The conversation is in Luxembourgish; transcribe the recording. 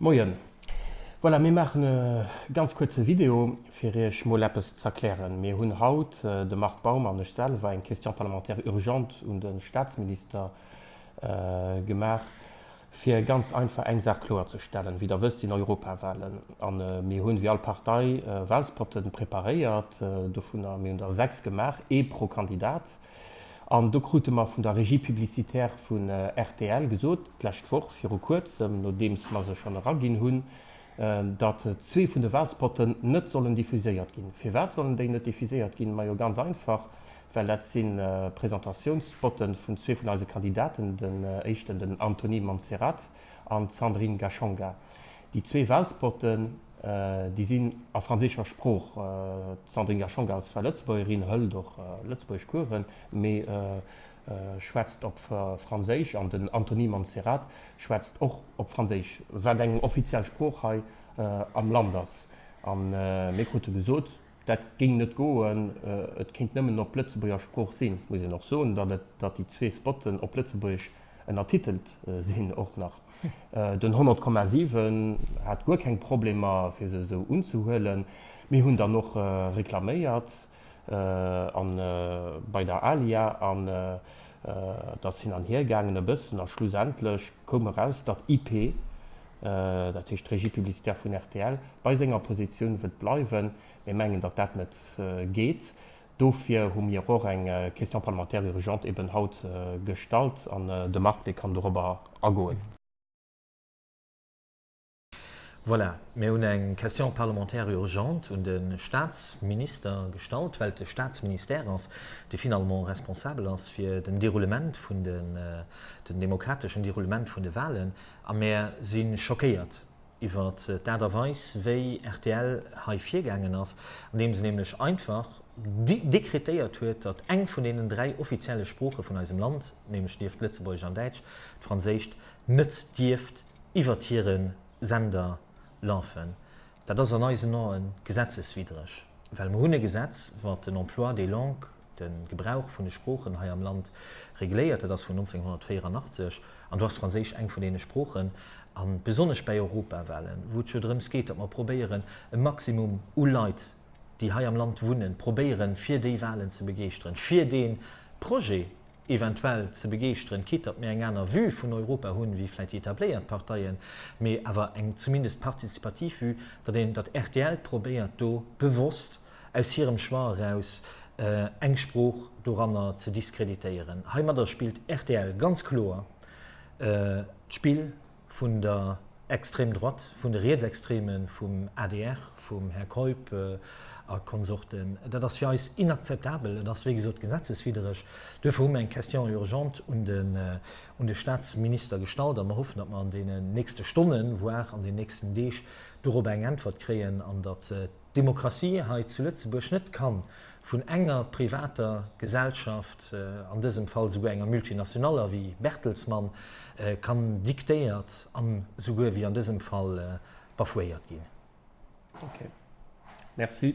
Moien. Voilà, mir maachen e ganz kuerze Video, fir Iech mol eppes z'erklären. Mir hunn haut, de Marc Baum an ech selwer, eng Question parlementaire urgente un de Statsminister gemaach, fir ganz einfach eng Saach kloerzestellen. Wéi Der wësst, sinn Europawahlen a mir hunn, wéi all Partei, Wahlspotten preparéiert. Dovunner, mir hunn der sechs gemaach, ee pro Kandidat. An do krute mer vun der Régie publicitaire vun rtl gesot, d'lescht Woch, viru Kuerzem, nodeems mer se schonn eraginn hunn, datt zwee vun de Walspotten net sollen diffuséiert ginn. Firwat sollen déi net diffuséiert ginn? Majo ganz einfach, well dat si Presentatiounsspotte vun zwee vun eise Kandidaten, den éischten, den Anthony Montserrat an d'Sandrine Gachonga. Déi zwee Welspotten, déi sinn a franséischer Sprooch. D'Sandrine Gacon als fräi Lëtzebuergerin hëlt och Lëtzebuergesch Kueren, mee schwätzt op Franséisch an den Anthony Montserrat schwätzt och op Franséisch, wat eng offiziell Sprooch hei am Land ass. A mir krute gesot, Dat géing net goen, et kéint nëmmen op Lëtzebuerger Sprooch sinn. Muss een och soen, datt déi zwee Spotten op Lëtzebuergesch ënnertitelt sinn och nach. Den 100,7 hat guer keng Problemer fir se esou unzehuelen. Mir hunn dann och reklaméiert bei der Alia an Et ass hin an hier gaangen e bëssen a schlussendlech koum eraus, datt IP, dat heescht d'Régie publicitaire vun rtl, bei senger Positioun wëllt bleiwen. Mir mengen, datt dat net geet. Dofir hu mir och eng Question parlementaire urgente eben haut gestallt an de Marc, dee kann dorobber agoen. Voilà, mir hunn eng Question parlementaire urgente un de Statsminister gestallt, well et de Statsministère ass, dee finalement responsabel ass fir den Deroulement vun den, den demokrateschen Deroulement vun de Wahlen. A mir si schockéiert iwwer d'Aart a Weis, wéi rtl hei virgaangen ass, andeems en nämlech einfach dekretéiert huet, datt eng vun deenen dräi offizielle Sprooche vun eisem Land, nämlech nieft Lëtzebuergesch an Däitsch d'Franséischt, net dierft iwwert hire Sender lafen. Dat ass an eisen Ae gesetzeswiddreg, well mer hunn e Gesetz, wat den Emploi des langues, de Gebrauch vun de Sproochen hei am Land regléiert. Dat ass vun 1984 an do ass Franséisch eng vun deene Sproochen, a besonnesch bäi Europawahlen, wou et jo drëms geet, datt mer probéieren, e Maximum u Leit, déi hei am Land wunnen, probéieren, fir déi Wahlen ze begeeschteren, fir dee Projet eventuell ze begeeschteren, quitte datt mir eng aner Vue vun Europa hunn wéi vläicht déi etabléiert Parteien, mee awer eng zumindest partizipativ Vue, datt een, datt rtl probéiert do bewosst aus hirem Choix eraus eng Sprooch doranner ze diskreditéieren. Heimadder spillt rtl ganz kloer d'Spill. vun der extrême droite, vun de Rietsextremen, vum adr, vum Här Keup a Konsorten. Dat ass fir eis inakzeptabel. Et ass, wéi gesot, gesetzeswiddereg. Duerfir hu mer eng Question urgente un de Statsminister gestallt a mer hoffen, datt mer an deenen nächste Stonnen, voire an den nächsten Deeg dorobber eng Äntwert kréien an datt Demokratie hei zu Lëtzebuerg net kann vun enger privater Gesellschaft, an dësem Fall souguer enger Multinationaler wéi Bertelsmann, kann diktéiert an souguer wéi an dësem Fall bafouéiert ginn. Ok. Merci.